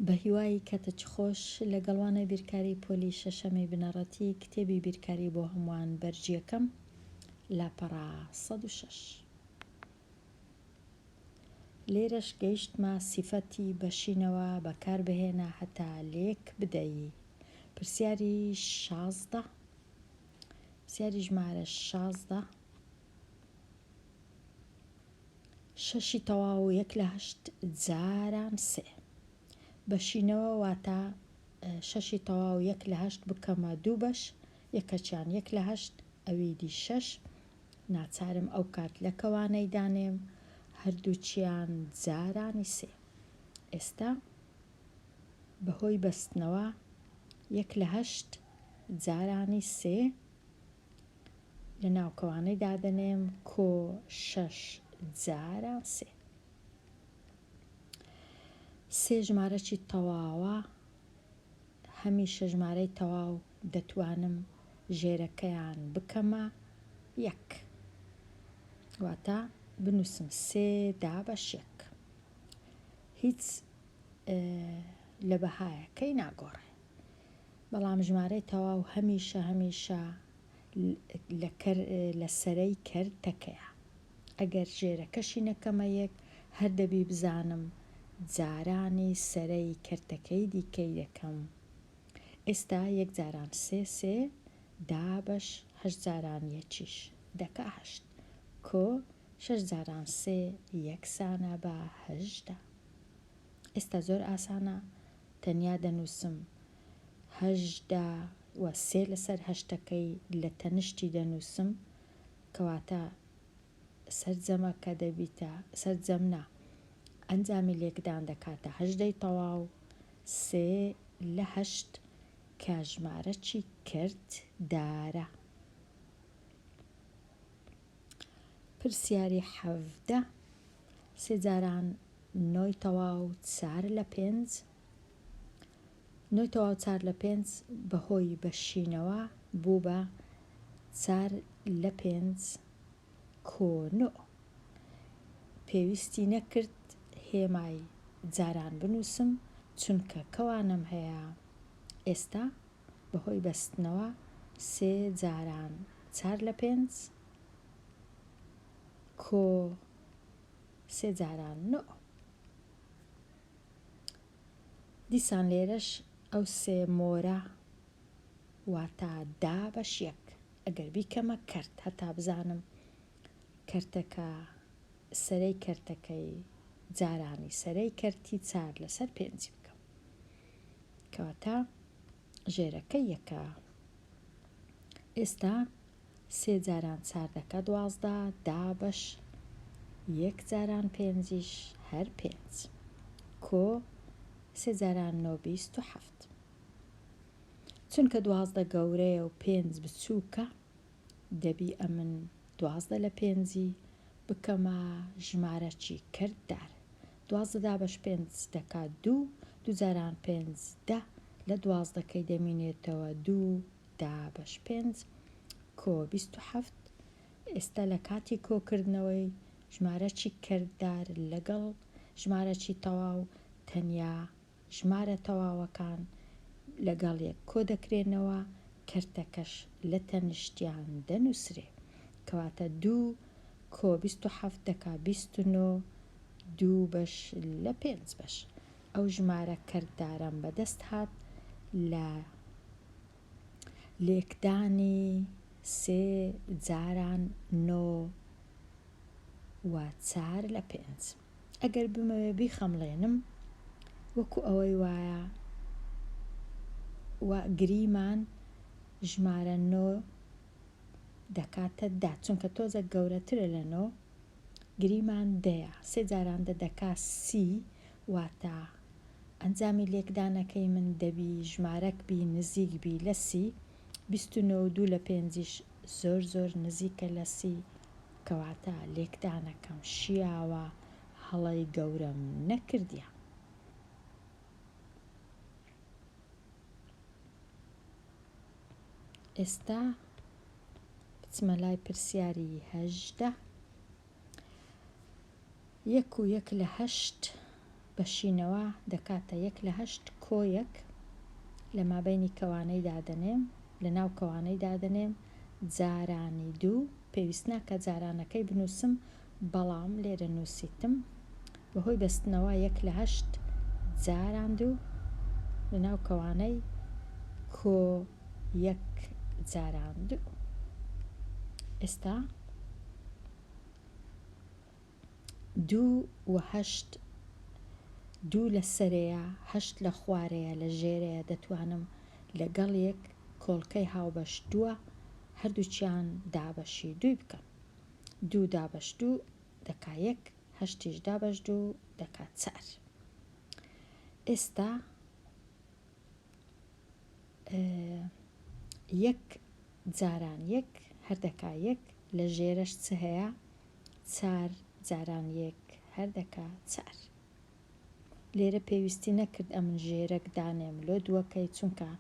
بەهیوای کەتچ خۆش، لەگەڵ وانەی بیرکاری پۆلی شەشەمی بنەڕەتی کتێبی بیرکاری بۆ هەمووان بەرگیەکەم لاپەڕە سەد و شەش. لێرەش گەیشتمە سیفەتی بەشینەوە بەکار بهێنە هەتا لێک بدەی پرسیاری شازدە پرسیاری ژمارە شازدە. شەشی تەواو یەک لە هەشت جاران سێ بەشینەوە واتە شەشی تەواو یەک لە هەشت بکەمە دوو بەش یەکەچیان یەک لە هەشت ئەوی دی شەش ناچارم ئەو کات لە کەوانەی دانێم هەردووچیان جارانی سێ ئێستا بەهۆی بەستنەوە یەک لە هەشت جارانی سێ لە ناوکەوانەی دادەنێم کۆ شەش جاران سێ سێ ژمارەی تەواوە هەمیشە ژمارەی تەواو دەتوانم ژێرەکەیان بکەمە یەک واتە بنووسم سێ دا بە شێک هیچ لە بەهایەکەی ناگۆڕێ بەڵام ژمارەی تەواو هەمیشە هەمیشە لە کەر لە سەرەی کەر تەکەیە ئەگەر ژێرەکەشی نەکەمە یەک هەر دەبی بزانم جارانی سەرەی کەرتەکەی دیکەی دەکەم ئێستا یەک جاران سێ سێ دابەش هەشت جاران یەکیش دەکا هەشت کۆ شەش جاران سێ یەکسانە بە هەژدە ئێستا زۆر ئاسانە تەنیا دەنووسم هەژدە و سێ لەسەر هەشتەکەی لە تەنشتی دەنووسم کەواتە سەرجەمەکە دەبیتە سەرجەم نا ئەنجامی لێکدان دەکاتە هەژدەی تەواو سێ لە هەشت کە ژمارەچی کرد دارە. پرسیاری حەڤدە سێ جاران نۆی تەواو چار لە پێنج نۆی تەواو چار لە پێنج بەهۆی بەشینەوە بوو بە چار لە پێنج کۆنۆ پێویستی نەکرد هێمای جاران بنووسم چونکە کەوانم هەیە ئێستا بەهۆی بەستنەوە سێ جاران چار لە پێنج کۆ سێ جاران نۆ دیسان لێرەش ئەو سێ مۆرە واتا دا بەش یەک ئەگەر بیکەمە کەرت هەتا بزانم کەرتەکە سەرەی کەرتەکەی جارانی سەرەی کەرتی چار لەسەر پێنجی بکەم کەواتە ژێرەکە یەکە ئێستا سێ جاران چاردەکە دوازدە دا بەش یەک جاران پێنجیش هەر پێنج کۆ سێ جاران نۆ بیست و حەفت چونکە دوازدە گەورەیە و پێنج بچووکە دەبی ئەمن دوازدە لە پێنجی بکەمە ژمارەکی کردار دوازدە دابەش پێنج دەکات دوو، دوو جاران پێنج دە، لە دوازدەکەی دەمینێتەوە دوو دابەش پێنج کۆ بیست و حەفت، ئێستا لە کاتی کۆکردنەوەی ژمارەکی کردار لەگەڵ ژمارەکی تەواو تەنیا ژمارە تەواوەکان لەگەڵ یەک کۆدەکرێنەوە، کەرتەکەش لە تەنیشتیان دەنووسرێ. کەواتە دوو کۆ بیست و حەفت دەکا بیست و نۆ، دوو بەش لە پێنج بەش. ئەو ژمارە کەرتدارەم بەدەست هات لە لێکدانی سێ جاران نۆ و چار لە پێنج. ئەگەر بمەوێ بیخەمڵێنم وەکو ئەوەی وایە و گریمان ژمارە نۆ دەکاتە دا چونکە تۆزە گەورەترە لە نۆ گریمان دەیە سێ جاران دە دەکا سی واتە ئەنجامی لێکدانەکەی من دەبی ژمارەک بی نزیک بی لە سی بیست و نۆ و دوو لە پێنجیش زۆر زۆر نزیکە لە سی کەواتە لێکدانەکەم شیاوە هەڵەی گەورەم نەکردیە. ئێستا بچمە لای پرسیاری هەژدە. یەک و یەک لە هەشت بەشینەوە دەکاتە یەک لە هەشت، کۆیەک لە مابەینی کەوانەی دادەنێم، لە ناو کەوانەی دادەنێم، جارانی دوو، پێویست ناکا جارانەکەی بنووسم، بەڵام لێرە نووسیتم، بە هۆی بەستنەوە یەک لە هەشت، جاران دوو، لە ناو کەوانەی، کۆ یەک جاران دوو. ئێستا. دوو و هەشت دوو لە سەرەیە هەشت لە خوارەیە لە ژێرەیە دەتوانم لەگەڵ یەک کۆڵکەی هاوبەش دووە هەردووکیان دابەشی دووی بکەم دوو دابەش دوو دەکا یەک هەشتیش دابەش دوو دەکا چار ئێستا یەک جاران یەک هەر دەکا یەک لە ژێرەش چ هەیە چار جاران یەک هەر دەکا چار لێرە پێویستی نەکرد ئەمن ژێرەک دانێم لۆ دووەکەی چونکە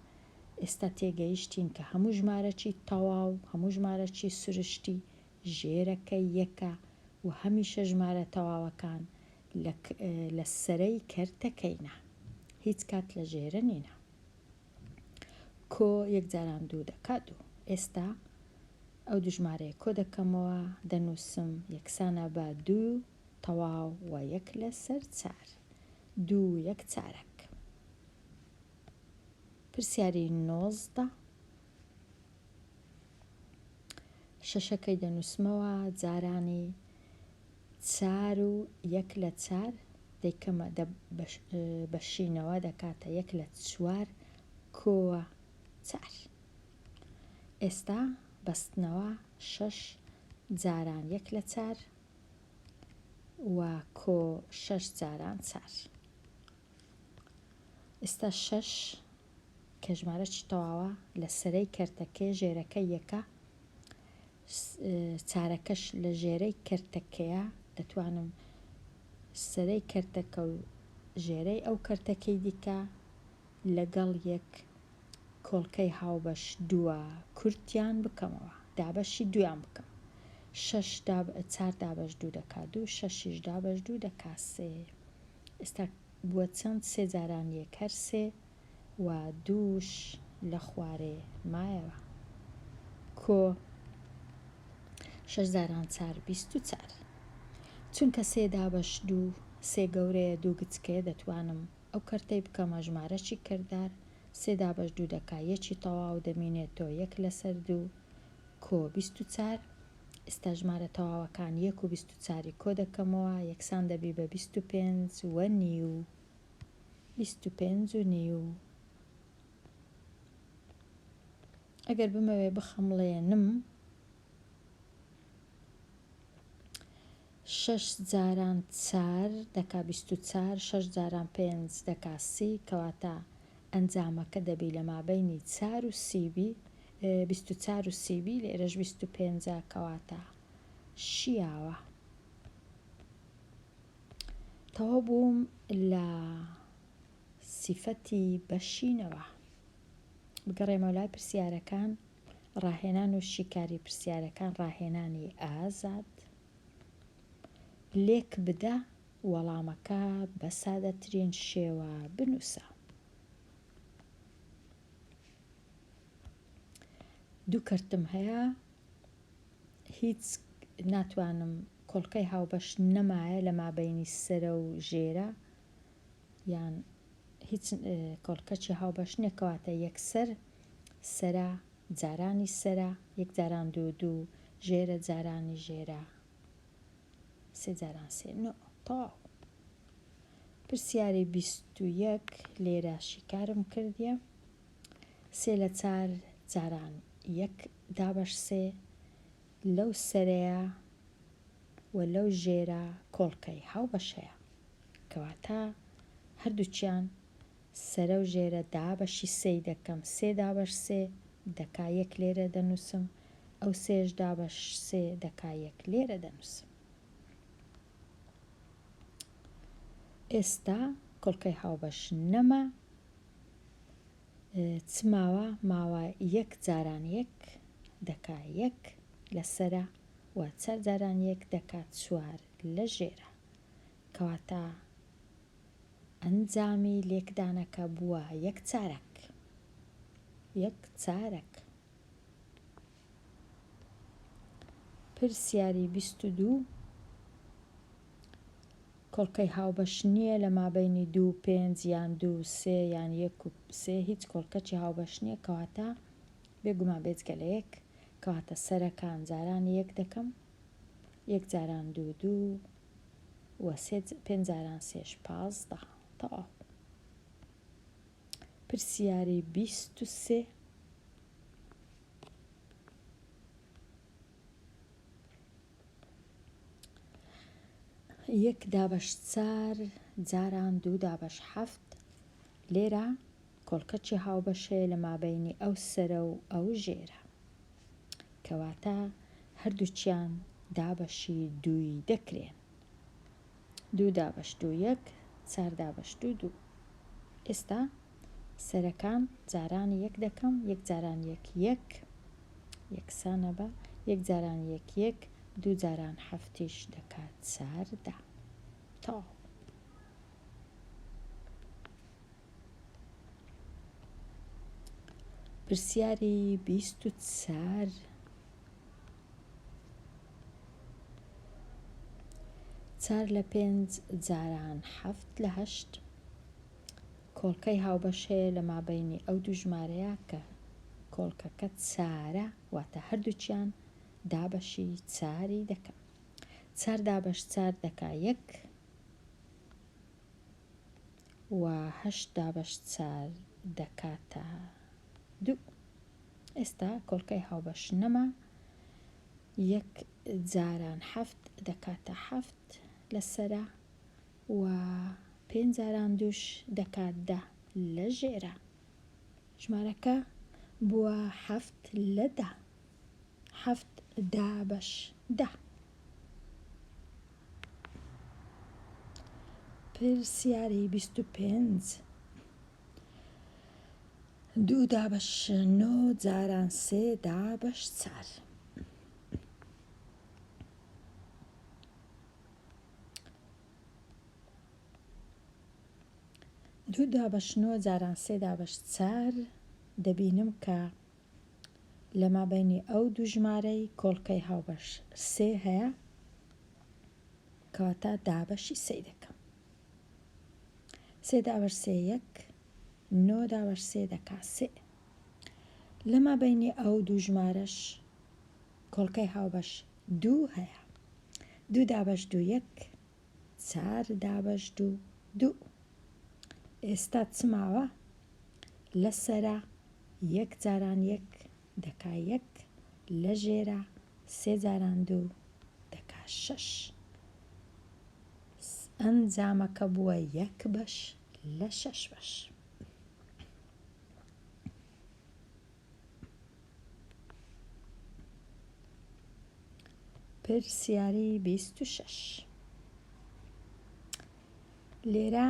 ئێستا تێگەیشتین کە هەموو ژمارەکی تەواو هەموو ژمارەکی سروشتی ژێرەکە یەکە و هەمیشە ژمارە تەواوەکان لە لە سەرەی کەرتەکەینە هیچ کات لە ژێرە نینە کۆ یەک جاران دوو دەکات دوو ئێستا ئەو دوژمارەیە کۆ دەکەمەوە دەنووسم یەکسانە بە دوو تەواو و یەک لەسەر چار دوو یەک چارەک پرسیاری نۆزدە شەشەکەی دەنووسمەوە جارانی چار و یەک لە چار دەیکەمە بەشینەوە دەکاتە یەک لە چوار کۆوە چار ئێستا بەستنەوە شەش جاران یەک لە چار و کۆ شەش جاران چار ئێستا شەش کە ژمارەش تەواوە لە سەرەی کەرتەکەی ژێرەکە یەکە چارەکەش لە ژێرەی کەرتەکەیە دەتوانم سەرەی کەرتەکە و ژێرەی ئەو کەرتەکەی دیکە لەگەڵ یەک کۆڵکەی هاوبەش دووە کورتیان بکەمەوە دابەشی دویان بکەم شش چار دابەش دوو دەکات دوو شەشیش دابەش دوو دەکات سێ ئێستا بوە چەند سێ جاران یەک هەر سێ وا دووش لە خوارێ مایەوە کۆ شەش جاران چار بیست و چار چونکە سێ دابەش دوو سێ گەورەیە دوو گچکەیە دەتوانم ئەو کەرتەی بکەمە ژمارەچی کەردار سێ دابەش دوو دەکا یەکی تەواو دەمینێتۆ یەک لەسەر دوو کۆ بیست و چار ئیستا ژمارە تەواوەکان یەک و بیست و چاری کۆ دەکەمەوە یەکسان دەبی بە بیست و پێنج و نیو بیست و پێنج و نیو ئەگەر بمەوێ بخەمڵێنم شەش جاران چار دەکا بیست و چار، شەش جاران پێنج دەکا سی، کەواتە ئەنجامەکە دەبی لە مابەینی چار و سی بی، بیست و چار و سی بی، لێرەش بیست و پێنجە، کەواتە شیاوە. تەواو بووم لە سیفەتی بەشینەوە. بگەڕێمەوە لای پرسیارەکان. ڕاهێنان و شیکاری پرسیارەکان ڕاهێنانی ئازاد لێک بدە وەڵامەکە بە سادەترین شێوە بنووسە دوو کەرتم هەیە هیچ ناتوانم کۆڵکەی هاوبەش نەمایە لە مابینی سرە و ژێرە یان هیچ کۆڵکەچی هاوبەش نیە کەواتە یەکسەر سەرە جارانی سەرە یەک جاران دوو دوو ژێرە جارانی ژێرە سێ جاران سێ نۆ تەواو پرسیاری بیست و یەک لێرە شیکارم کردیە سێ لە چار جاران یەک دابەش سێ لەو سەرەیە و لەو ژێرە کۆڵکەی هاوبەشەیە کەواتە هەردووکیان سەرە و ژێرە دابەشی سێی دەکەم، سێ دابەش سێ دەکا یەک لێرە دەنووسم، ئەو سێیەش دابەش سێ دەکا یەک لێرە دەنووسم. ئێستا کۆڵکەی هاوبەش نەما، چ ماوە؟ ماوە یەک جاران یەک دەکا یەک لەسەرە و چار جاران یەک دەکا چوار لە ژێرە. کەواتە ئەنجامی لێکدانەکە بووە یەک چارەک. یەک چارەک. پرسیاری بیست و دوو، کۆڵکەی هاوبەش نییە لە مابەینی دوو و پێنج یان دوو و سێ یان یەک و سێ هیچ کۆڵکەچی هاوبەش نییە کەواتە بێگومان بێجگە لە یەک کەواتە سەرەکان جارانی یەک دەکەم. یەک جاران دوو دوو و سێ پێنج جاران سێش پازدە تەواو پرسیاری بیست و سێ یەک دابەش چار جاران دوو دابەش حەفت لێرە کۆڵکەچی هاوبەش هەیە لە مابەینی ئەو سەرە و ئەو ژێرە. کەواتە هەردووکیان دابەشی دووی دەکرێن. دوو دابەش دوو یەک، چار دابەش دوو دوو. ئێستا سەرەکان جارانی یەک دەکەم، یەک جاران یەک یەک، یەکسانە بە یەک جاران یەک یەک، دوو جاران حەفتیش دەکات چاردە. تەواو. پرسیاری بیست و چار چار لە پێنج جاران حەفت لە هەشت کۆڵکەی هاوبەش هەیە لە مابینی ئەو دوو ژمارەیە کە کۆڵکەکە چارە واتە هەردووچیان دابەشی چاری دەکەن چار دابەش چار دەکا یەک و هەشت دابەش چار دەکاتە دوو. ئێستا کۆڵکەی هاوبەش نەما، یەک جاران حەفت دەکاتە حەفت لە سەرا و پێنج جاران دووش دەکات دە لە ژێرا. ژمارەکە بووە حەفت لە دە. حەفت دا بەش دە. پرسیاری بیست و پێنج دوو دا بەش نۆ جاران سێ دا بەش چار. دوو دا بەش نۆ جاران سێ دا بەش چار دەبینم کە لە مابەینی ئەو دوو ژمارەی کۆڵکەی هاوبەش سێ هەیە کەواتە دابەشی سێی دەکەم سێ دابەش سێ یەک نۆ دابەش سێ دەکا سێ لە مابەینی ئەو دوو ژمارەش کۆڵکەی هاوبەش دوو هەیە دوو دابەش دوو یەک چار دابەش دوو دوو. ئێستا چ ماوە؟ لە سەرا یەک جاران یەک دەکا یەک، لە ژێرا سێ جاران دوو دەکا شەش. ئەنجامەکە بووە یەک بەش لە شەش بەش. پرسیاری بیست و شەش لێرە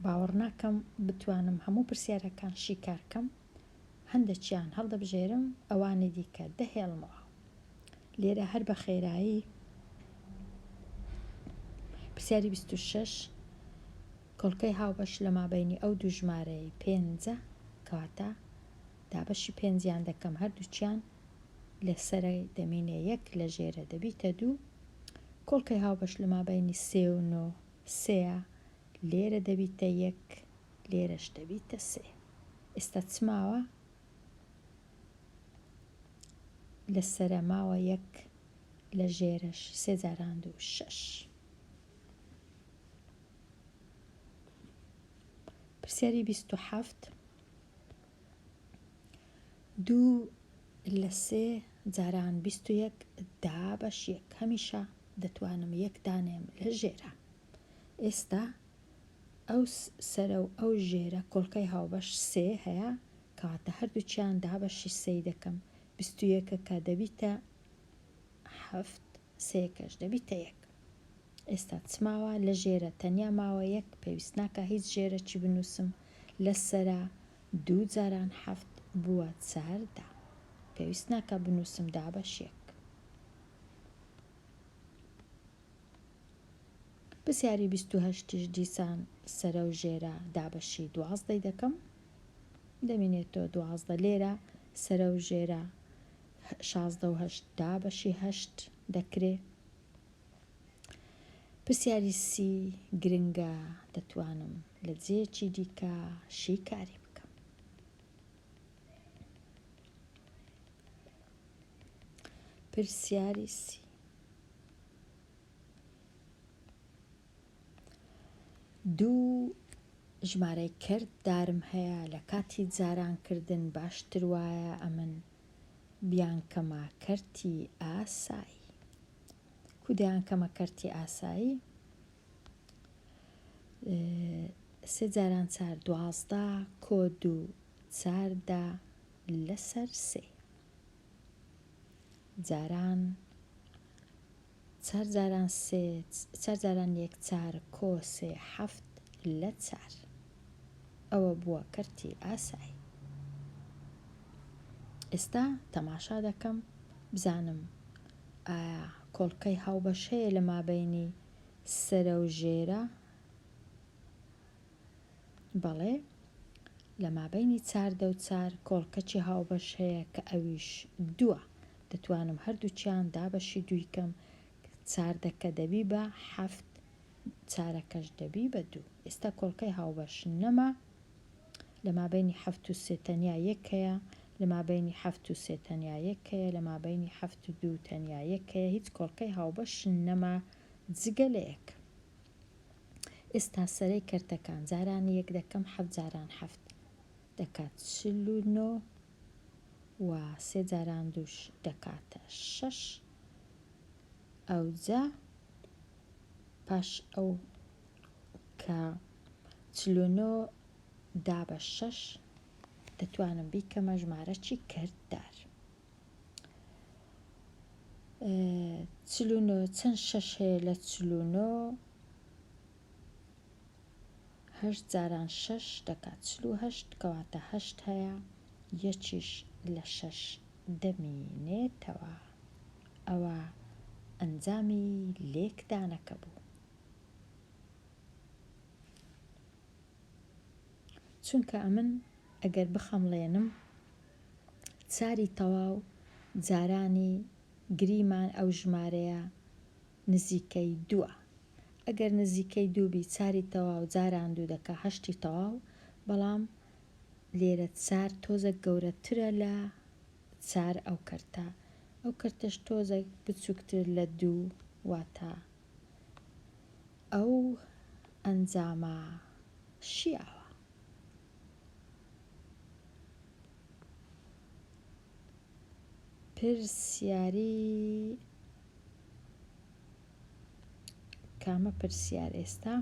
باوەڕ ناکەم بتوانم هەموو پرسیارەکان شیکار کەم هەندێکیان هەڵدەبژێرم ئەوانی دیکە دەهێڵمەوە لێرە هەر بە خێرایی پرسیاری بیست و شەش کۆڵکەی هاوبەش لە مابەینی ئەو دوو ژمارەیەی پێنجە کەواتە دابەشی پێنجیان دەکەم هەردووکیان لە سەرە دەمینێ یەک لە ژێرە دەبیتە دوو کۆڵکەی هاوبەش لە مابەینی سێ و نۆ سێە لێرە دەبیتە یەک لێرەش دەبیتە سێ ئێستا چ ماوە لە سەرە ماوە یەک لە ژێرەش سێ جاران دوو شەش پرسیاری بیست و حەفت دوو لە سێ جاران بیست و یەک دا بەش یەک هەمیشە دەتوانم یەک دانێم لە ژێرە ئێستا ئەو سەرە و ئەو ژێرە کۆڵکەی هاوبەش سێ هەیە کەواتە هەردووچیان دا بەشی سێی دەکەم بیست و یەکەکە دەبیتە حەفت سێکەش دەبیتە یەک ئێستا چ ماوە لە ژێرە تەنیا ماوە یەک پێویست ناکا هیچ ژێرە چی بنوسم لە سەرا دوو جاران حەفت بووە چار دا پێویست ناکا بنوسم دابەش یەک پرسیاری بیست و هەشتیش دیسان سەرە و ژێرە دابەشی دوازدەی دەکەم دەمینێتەوە دوازدە لێرە سەرە و ژێرە شازدە و هەشت دابەشی هەشت دەکرێ پرسیاری سی گرنگە دەتوانم لە جێیەکی دیکە شیکاری بکەم پرسیاری سی دوو ژمارەی کرد دارم هەیە لە کاتی جارانکردن باشتر وایە ئەمن دەیان کەمە کەرتی ئاسایی کو دەیان کەمە کەرتی ئاسایی سێ جاران چار دوازدە کۆ دوو چاردە لەسەر سێ جاران چار جاران سێ چار جاران یەک چار کۆ سێ حەفت لە چار ئەوە بووە کەرتی ئاسای ئێستا تەماشا دەکەم بزانم ئایا کۆڵکەی هاوبەش هەیە لە مابەینی سەرە و ژێرە بەڵێ، لە مابەینی چاردە و چار کۆڵکەچی هاوبەش هەیە کە ئەویش دووە، دەتوانم هەردووکیان دابەشی دووی کەم، چاردەکە دەبی بە حەفت چارەکەش دەبی بە دوو، ئێستا کۆڵکەی هاوبەش نەما، لە مابەینی حەفت و سێ تەنیا یەک هەیە، لە مابەینی حەفت و سێ تەنیا یەک هەیە، لە مابەینی حەفت و دوو تەنیا یەک هەیە، هیچ کۆڵکەی هاوبەش نەما جگە لە یەک. ئێستا سەرەی کەرتەکان، جاران یەک دەکەم حەفت جاران حەفت دەکات چل و نۆ و سێ جاران دووش دەکاتە شەش ئەوجا پاش ئەو کە چل و نۆ دا بە شەش دەتوانم بیکەمە ژمارەچی کەرتدار. چل و نۆ چەند شەش هەیە لە چل و نۆ هەشت جاران شەش دەکات چل و هەشت کەواتە هەشت هەیە یەکیش لە شەش دەمینێتەوە ئەوە ئەنجامی لێکدانەکە بوو چونکە ئەمن ئەگەر بخەمڵێنم ساری تەواو جارانی گریمان ئەو ژمارەیە نزیکەی دووە ئەگەر نزیکەی دوو بی چاری تەواو جاران دوو دەکا هەشتی تەواو بەڵام لێرە چار تۆزەک گەورەترە لە چار ئەو کەرتە ئەو کەرتەش تۆزەک بچووکتر لە دوو واتە ئەو ئەنجامە شیاوە. کامە پرسیار ئێستا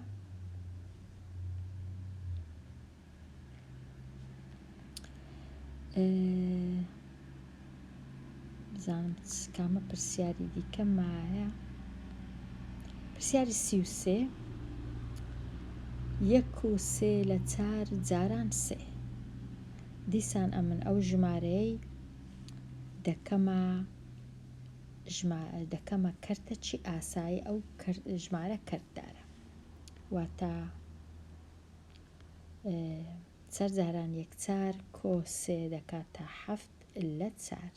بزانم کامە پرسیاری دیکە مایە پرسیاری سی و سێ یەک و سێ لە چار جاران سێ دیسان ئەمن ئەو ژمارەیەی دەکەمە دەکەمە کەرتە چی ئاسایی ئەو ژمارە کەرتدارە واتە چەر جاران یەک چار کۆ سێ دەکا تا حەفت اللە چار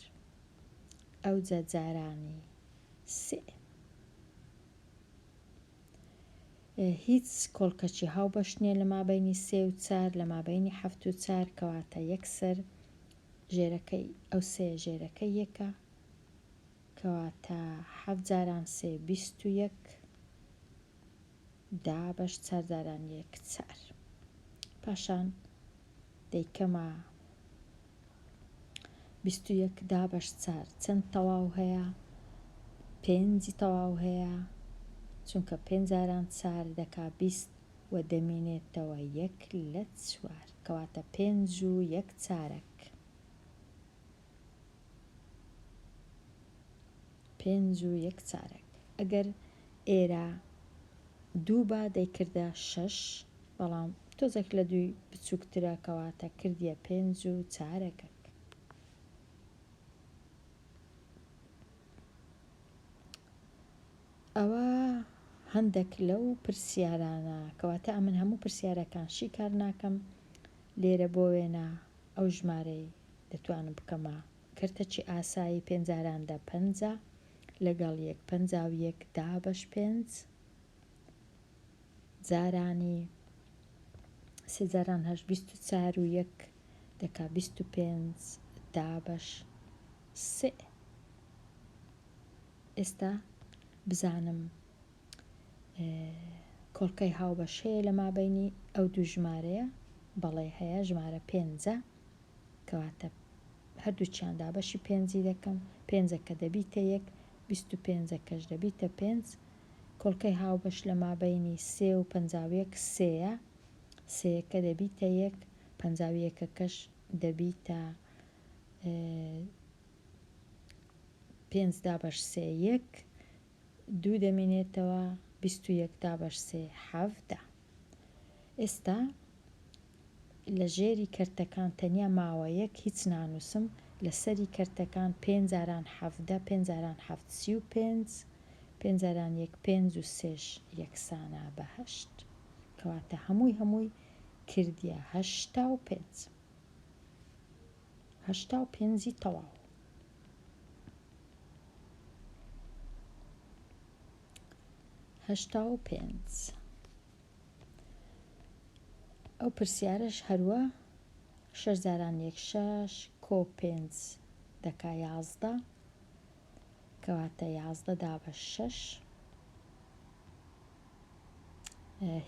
ئەوجە جارانی سئ هیچ کۆڵکەچی هاوبەش نیە لە مابەینی سێ و چار لە مابەینی حەفت و چار کەواتە یەک سەر ژێرەکەی ئەو سێ ژێرەکەی یەکە کەواتە حەفت جاران سێ بیست و یەک دا بەش چارداران یەک چار پاشان دەیکەمە بیست و یەک دا بەش چار چەند تەواو هەیە پێنجی تەواو هەیە چونکە پێنجاران چار دەکا بیست و دەمینێتەوە یەک لە چوار کەواتە پێنج و یەک چارەک پێنج و یەک چارەک ئەگەر ئێرە دوو با دەیکردە شەش بەڵام تۆزێک لە دووی بچووکترە کەواتە کردیە پێنج و چارەکە ئەوە هەندێک لەو پرسیارانە کەواتە ئەمن هەموو پرسیارەکان شیکار ناکەم لێرە بۆ وێنە ئەو ژمارەی دەتوانم بکەمە کەرتەچی ئاسایی پێنجاران دە پەنجا لەگەڵ یەک پەنجا و یەک دابەش پێنج جارانی سێ جاران هەشت بیست و چار و یەک دەکا بیست و پێنج دابەش سێ ئێستا بزانم کۆڵکەی هاوبەش هەیە لە مابەینی ئەو دوو ژمارەیە بەڵێ هەیە ژمارە پێنجە کەواتە هەردووچیان دابەشی پێنجی دەکەم پێنجە کە دەبیتە یەک بیست و پێنجە کەش دەبیتە پێنج کۆڵکەی هاوبەش لە مابەینی سێ و پەنجاویەک سێە سێەکە دەبیتە یەک پەنجاویەکەکەش دەبیتە پێنج دابەش سێ یەک دوو دەمینێتەوە بیست و یەک دابەش سێ حەڤدە ئێستا لە ژێری کەرتەکان تەنیا ماوە یەک هیچ نانوسم لە سەری کەرتەکان پێنج جاران حەڤدە پێنج جاران حەڤد سی و پێنج پێنج جاران یەک پێنج و سێش یەکسانە بە هەشت کەواتە هەمووی هەمووی کردیە هەشتا و پێنج هەشتا و پێنجی تەواو. هەشتا و پێنج ئەو پرسیارەش هەروە شەش جاران یەک شەش کۆ پێنج دەکا یازدە کەواتە یازدە دا بە شەش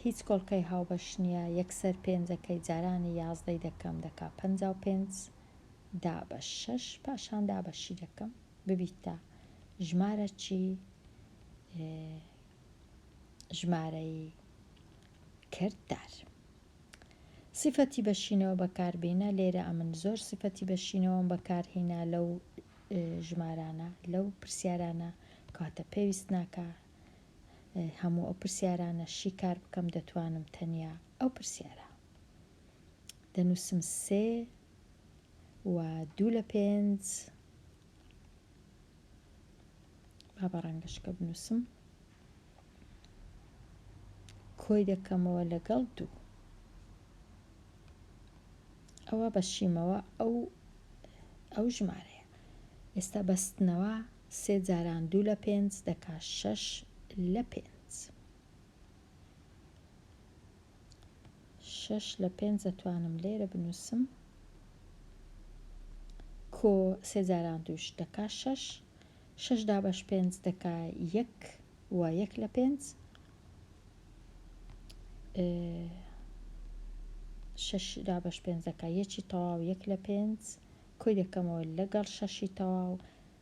هیچ کۆڵکەی هاوبەش نییە یەکسەر پێنجەکەی جارانی یازدەی دەکەم دەکا پەنجا و پێنج پێنج دا بە شەش پاشان دا بە شی دەکەم ببیتە ژمارە چی ژمارەی کردار سیفەتی بەشینەوە بەکاربینە لێرە ئەمن زۆر سیفەتی بەشینەوەم بەکارهینا لەو ژمارانە لەو پرسیارانە کاتە پێویست ناکە هەموو ئەو پرسیارانە شیکار بکەم دەتوانم تەنیا ئەو پرسیارە دەنووسم سێ و دوو لە پێنج با بە ڕەنگەشکە بنووسم کۆی دەکەمەوە لەگەڵ دوو ئەوە بەشیمەوە ئەو ئەو ژمارەیە ئێستا بەستنەوە سێ جاران دوو لە پێنج دەکا شەش لە پێنج شەش لە پێنج دەتوانم لێرە بنووسم کۆ سێ جاران دووش دەکا شەش شەش دابەش پێنج دەکا یەک و یەک لە پێنج شەش دابەش پێنج دەکا یەکی تەواو یەک لە پێنج کۆی دەکەمەوە لەگەڵ شەشی تەواو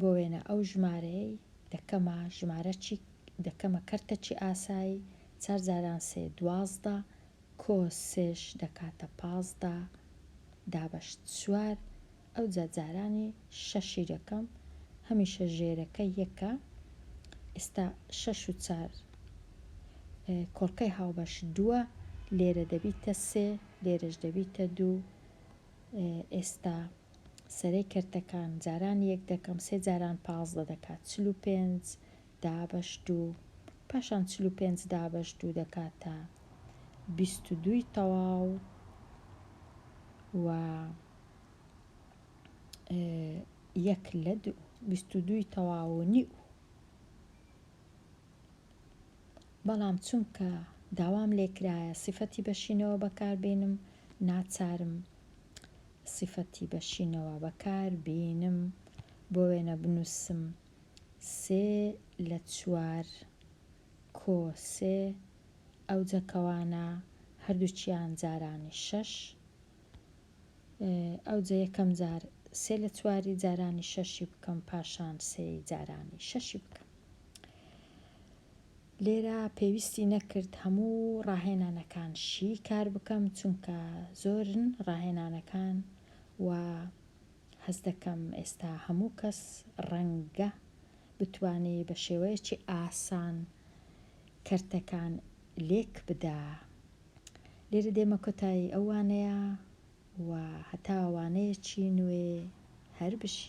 بۆ وێنە ئەو ژمارەیەی دەکەمە ژمارە چی دەکەمە کەرتە چی ئاسایی چار جاران سێ دوازدە کۆ سێش دەکاتە پازدە دابەش چوار ئەوجا جارانی شەشی دەکەم هەمیشە ژێرەکە یەکە ئیستا شەش و چار کۆڵکەی هاوبەش دووە لێرە دەبیتە سێ لێرەش دەبیتە دوو ئێستا سەرەی کەرتەکان جاران یەک دەکەم سێ جاران پازدە دەکات چل و پێنج دابەش دوو پاشان چل و پێنج دابەش دوو دەکاتە بیست و دووی تەواو و یەک لە دوو بیست و دووی تەواو و نیو بەڵام چونکە داوام لێکرایە سیفەتی بەشینەوە بەکاربینم ناچارم سیفەتی بەشینەوە بەکاربینم بۆ وێنە بنوسم سێ لە چوار کۆ سێ ئەوجە کەوانە هەردوکیان جارانی شەش ئەوجە یەکەم جار سێ لە چواری جارانی شەشی بکەم پاشان سێی جارانی شەشی بکەم لێرە پێویستی نەکرد هەموو ڕاهێنانەکان شی کار بکەم چونکە زۆرن ڕاهێنانەکان و هەز دەکەم ئێستا هەموو کەس ڕەنگە بتوانێت بە شێوەیەکی ئاسان کەرتەکان لێک بدا لێرە دێمە کۆتایی ئەو وانەیە و هەتا وانەیەکی نوێ هەر بژی.